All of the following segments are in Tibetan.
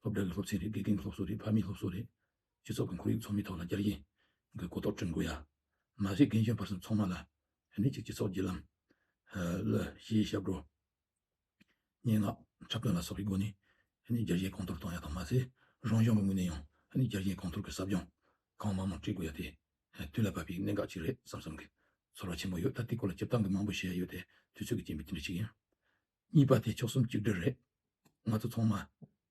སློབ་གྲྭ་གི་སློབ་ཚན་རེད་དགེ་རྒན་གྱི་སློབ་གསོ་རེད་ཕ་མའི་སློབ་གསོ་རེད། སྤྱི་ཚོགས་ཀྱི་ཁོར་ཡུག་ཚོགས་མིའི་ཐོག་ལ་བསྐྱར་ཡིག་གི་གོ་རྟོགས་བསྐྲུན་དགོས་ཡ། མ་གཞི་རྒན་གཞོན་བར་གསུམ་ཚང་མ་ལ་ནི་གཅིག་སྤྱི་ཚོགས་བརྒྱུད་ལམ། ལ། གཞིའི་ཞབས་བྲོ། སྙན་ངག། འཁྲབ་སྟོན་ལ་སོགས་ཀྱི་སྒོ་ནས་ནི་བསྐྱར་ཞིབ་གོང་མཐོར་གཏོང་ཡ་དང་མ་ཟད་རང་གཞུང་གི་ངོས་ནས་ཡང་ནི་བསྐྱར་ཞིབ་གོང་མཐོར་གྱི་ཟབ་སྦྱོང་ཁང་མང་མང་བསྐྲུན་དགོས་ཡ་དེ་དུས་ལ་བབ་པའི་གནད་འགག་ཅིག་རེད་བསམ་བསམ་གྱི་ཚོར་བ་ཆེན་པོ་ཡོད་ད་དེའི་སྐོར་ལ་སྤྱིར་བཏང་གི་མང་པོ་བཤད་ཡ་ཡོད་དེ་དུས་ཚོད་ཀྱི་རྐྱེན་པས་དེ་འདྲ་ཞིག་ཡིན། གཉིས་པ་དེ་ཕྱོགས་གསུམ་གཅིག་སྒྲིལ་རེད། ང་ཚོ་ཚང་མ།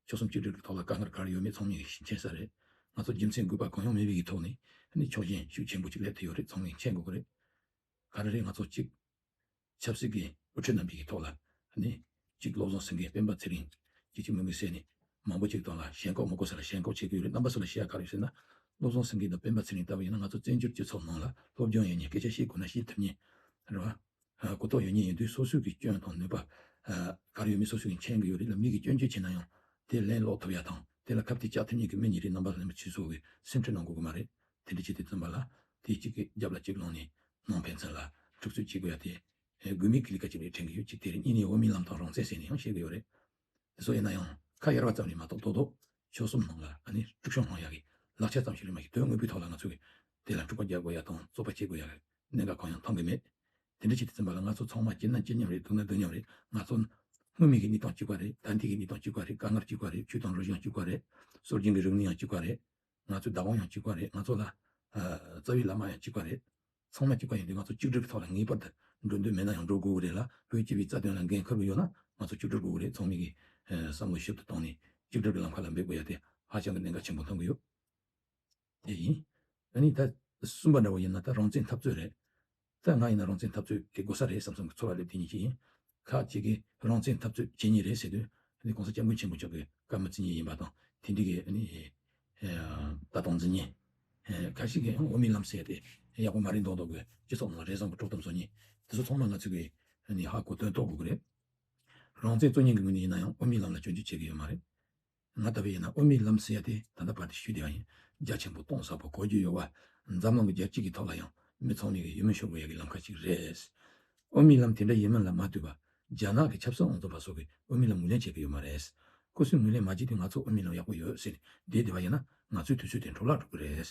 ཕྱོགས་གསུམ་གཅིག་སྒྲིལ་གྱི་ཐོག་ལ་དཀའ་ངལ་ག་རེ་ཡོད་མེད་ཚང་མས་མཁྱེན་ས་རེད། ང་ཚོ་རྒྱུ་མཚན་དགོས་པ་གང་ཡང་མེད་པའི་ཐོག་ནས། ནི་ཕྱོགས་ཞེན་ཤུགས་ཆེན་པོ་གཅིག་སླེབས་ཐུབ་ཡོད་རེད་ཚང་མས་མཁྱེན་དགོས་ཀྱི་རེད། ག་རེ་རེད་ང་ཚོ་གཅིག། ཆབ་སྲིད་ཀྱི་དབུ་ཁྲིད་རྣམས་ཀྱི་ཐོག་ལ། ནི། གཅིག་བློ་བཟང་སེང་གེ་སྤེན་པ་ཚེ་རིང། གཅིག་གཅིག་མིག་མིག་བསལ་ནས། མང་པོ་གཅིག་དང་ལ་ཞེན་ཁོག་མ་དགོས་ས་ལ་ཞེན་ཁོག་བྱེད་ཀྱི་ཡོད་རེད་རྣམ་པ་སུ་ལ་ཤེས་ཡ་ག་རེ་ཡོད་ཟེར་ན། བློ་བཟང་སེང་གེ་དང་སྤེན་པ་ཚེ་རིང་ལྟ་བུ་ཡིན་ན་ང་ཚོ་བཙན་བྱོལ་སྤྱི་ཚོགས་ནང་ལ་སློབ་སྦྱོང་ཡས་ནས་སྐད་ཆ་བཤད་དགོས་ན་བཤད་ཐུབ་ངེས་རེད་བ། གུ་དོག་ཡོད་ཉེས་ཡིན་དུས་སོ་སོའི་གི་སྐྱོན་དང་ནུས་པ། གར་ཡོད་མེད་སོ་སོའི་གི་མཁྱེན་གི་ཡོད་རིགས་ལ་མིག་གི་སྐྱོན་བརྗོད་བྱས་ན་ཡང་དེ་ལན་སློག་ཐུབ་ཡ་དང་དེ་ལ་ཁབ་ཐིག་བཅག་ཐུབ་ཉེས་གི་མི་ཉེ་རིགས་རྣམ་པ་ལ་ལན་པ་ཆུད་ཟོ་གི་སེམས་ཁྲེལ་གནང་དགོས་གི་མ་རེད་དེ་འདྲི་བྱེད་དེ་བཙོན་པ་ལ་དེ་གཅིག་གི་རྒྱབ་ལ་གཅིག་ལོང་ནས་ནང་ཕན་ཚུན་ལ་འཁྲུག་རྩོད་བྱེད་དགོས་ཡ་དེ་དགོས་མེད་གི་ལི་ཀ་གཅིག་རེད་དྲན་གི་ཡོད་གཅིག་དེ་རེད་གཉིས་ནས་འོས་མི་ལམ་དང་རང་བཙན་ཟེར་ནས་ཡང་བཤད་གི་ཡོད་རེད་དེ་ཚོ་ཡིན་ན་ཡང་ཁ་གཡར་བ་ཙམ་ལས་མ་གཏོགས་རྡོག་རྡོག་ཆོལ་གསུམ་ནང་ལ་ཨ་ནི་དཀྲུག་ཤོང་གནང་ཡག་གི་ལག་ཆ་ཙམ་ཞིག་རིན་མ་གི་དོན་དངོས་པོའི་ཐོག་ལ་ང་ཚོ་གི་དེ་ལ་འཁྲུག་པ་རྒྱག་དགོས་ཡ་དང་རྩོག་པ་བྱེད་དགོས་ཡ་གི་གནད་འགག་གང་ཡང་མཐོང་གི་མེད། དེ་འདྲ་ཆེད་དུ་བཙན་པ་ལ་ང་ཚོ་ཚང་མ་སྐྱིད་ན་སྐྱིད་མཉམ་རེད་སྡུག་ན་སྡུག་མཉམ་རེད་ང་ཚོ་ནི་སྔོན་མེད་གི་གཉིས་དང་གཅིག་པ་རེད་ད་འདི་གི་གཉིས་དང་གཅིག་པ་རེད་དཀའ་ངར་གཅིག་པ་རེད་ཆུ་དང་རུ་བཞི་ཡང་གཅིག་པ་རེད་སྲོལ་རྒྱུན་གི་རིག་གནས་ཡང་གཅིག་པ་རེད་ང་ཚོའི་བདག་དབང་ཡང་གཅིག་པ་རེད་ང་ཚོ་ལ་རྩ་བའི་བླ་མ་ཡང་གཅིག་པ་རེད་ཚང་མ་སྐྱིད་པ་ཡིན་དུས་ང་ཚོ་གཅིག་སྒྲིལ་གྱི་ཐོག་ལ་ངེས་པར་དུ་འགྲོ་འདོད་མེད་ན་ཡང་འགྲོ་དགོས་ཀྱི་རེད་ལ་བོད་སྤྱི་བའི་རྩ་དོན་ལ་འགན་ཁུར་གྱི་ཡོད་ན་ང་ཚོ་གཅིག་སྒྲིལ་དགོས་ཀྱི་རེད་ཚོགས་མི་གི་བསམ་བློ་ཞིབ་ཏུ་བཏང་ནས་གཅིག་སྒྲིལ་གྱི་ལམ་ཁ་ལ་འབད་དགོས་ཡ་དེ་ཧ་ཅང་གི་གནད་འགག་ཆེན་པོ་མཐོང་གི་ཡོད་དེ་ཡིན་ད་ནི་ད་གསུམ་པ་འདྲ་བོ་ཡིན་ན་ད་རང་བཙན་འཐབ་རྩོད་རེད་ད་ང་ཡིན་ན་རང་བཙན་འཐབ་རྩོད་དེ་དགོས་ས་རེད་བསམ་བསམ་གི་ཚོར་བ་སླེབས་དེ་ཉིན་གཅིག་ཡིན་ཁག་ཅིག་གིས་རང་བཙན་འཐབ་རྩོད་བྱེད་ངེས་རེད་ཟེར་དུས། ནི ྋགོང་ས ྋསྐྱབས་མགོན་ཆེན་པོ་མཆོག་གིས་བཀའ་མ་བརྩི་ངེས་ཡིན་པ་དང་དེ་འགྲིག་གི་ནི་ལྟ་སྟངས་བརྩི་ངེས། ཁག་ཅིག་གིས་ཡང་འོས་མི་ལམ་སེ་སྟེ་ཡག་པོ་མ་རེད་མདོག་མདོག་གིས་སྤྱི་ཚོགས་ནང་རེ་བཟང་པོ་དཀྲོག་ཐབས་བཟོ་ངེས། དེ་ཚོ་ཚང་མ་ང་ཚོས་གིས་ནི་ཧ་གོ་དོན་རྟོགས་དགོས་ཀྱི་རེད། རང་བཙན་རྩོད་ངེས་ཀྱི་ངོས་ནས་ཡིན་ན་ཡང་འོས་མི་ལམ་ལ་སྐྱོན་བརྗོད་བྱེད་ཀྱི་ཡོད་མ་རེད། ང་ལྟ་བུ་ཡིན་ན་ཨོ་མི་ལམ་ཟེར་ཡ་དེ་ད་ལྟ་བར་དེ་ཞུས་དེ་ཡང་ཡིན་རྒྱ་ཆེན་པོ་སྟོང་ཟ་བོ་གོ་རྒྱུ་ཡོད་བ་འཛམ་གླིང་གི་རྒྱལ་གཅིག་གི་ཐོག་ལ་ཡང་མི་ཚོགས་མིང་གི་ཡུལ་མི་ཤོར་བོ་ཡ་གི་ལམ་ཁ་གཅིག་རེད། ཨོ་མི་ལམ་དེ་འདྲ་ཡིན་མིན་ལ་མ་ལྟོས་པ་རྒྱ་ནག་གི་ཆབ་སྲིད་ཨང་རྩོམ་པ་སོགས་ཀྱི་ཨོ་མི་ལམ་ངོས་ལེན་བྱེད་ཀྱི་ཡོད་མ་རེད། སྐུ་སྲིང་ངོས་ལེན་མ་བགྱིས་ཏེ་ང་ཚོ་ཨོ་མི་ལམ་ཡག་པོ་ཡོད་ཟེར་ནས་བསྡད་དེ་བ་ཡིན་ན་ང་ཚོའི་དུས་ཚོད་དེ་འཕྲོ་བརླག་འགྲོ་གི་རེད།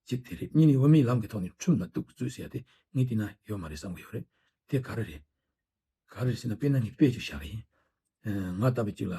གཅིག་དེ་རེད་གཉིས་ནི་ཨོ་མི་ལམ་གི་ཐོག་ནས་ཁྲིམས་ལ་གཏུག་གི་རྩོད་ཟེར་ཡ་དེ་ངས་བལྟས་ན་ཡོད་མ་རེད་བསམ་གྱི་ཡོད་རེད་དེ་ག་རེ་རེད། ག་རེ་རེད་ཟེར་ན་དཔེར་ན་ངས་དཔེ་ཅིག་བཞག་གི་ཡིན། ང་ལྟ་བུ་གཅིག་ལ།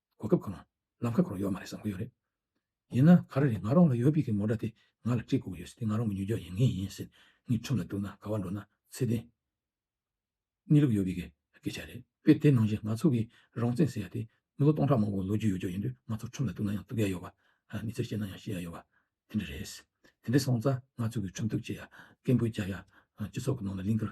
གོ་སྐབས་གང་ལམ་ཁ་ཁོར་ཡོད་མ་རེད་བསམ་གྱི་ཡོད་རེད། ཡིན་ན་ག་རེ་རེད་ང་རང་ལ་ཡོད་པི་གི་མོ་འདྲ་དེ་ང་ལ་དཀྲིས་བསྐུར་གི་ཡོད་སེ་དེ་ང་རང་གི་མྱུ་འཇོག་ཡིན་ངེས་ཡིན་སེ་ངའི་ཁྲིམས་ལ་བསྡུར་ན་ག་བ་འགྲོ་ན་ཚེ་བརྟན་གནས་ལུགས་ཡོད་པི་གི་སྐད་ཆ་རེད་པེ་དེ་ནང་བཞིན་ང་ཚོ་གི་རང་བཙན་ཟེར་ཡ་དེ་མི་ལོ་སྟོང་ཕྲག་མང་པོ་ལོ་རྒྱུས་ཡོད་རྒྱུ་ཡིན་དུས་ང་ཚོ་ཁྲིམས་ལ་བསྡུར་ན་ཡང་བསྡུག་ཡ་ཡོད་བ་མི་ཚེར་ཤེས་ན་ཡང་ཤེས་ཡ་ཡོད་བ་དེ་འདྲ་རེད། དེ་འདྲའི་སོང་ཙང་ང་ཚོ་གི་ཁྲིམས་བསྡུག་བྱེད་ཡ་སྐད་འབོད་རྒྱག་ཡ་སྤྱི་ཚོགས་གི་ནང་ལ་ལིང་གར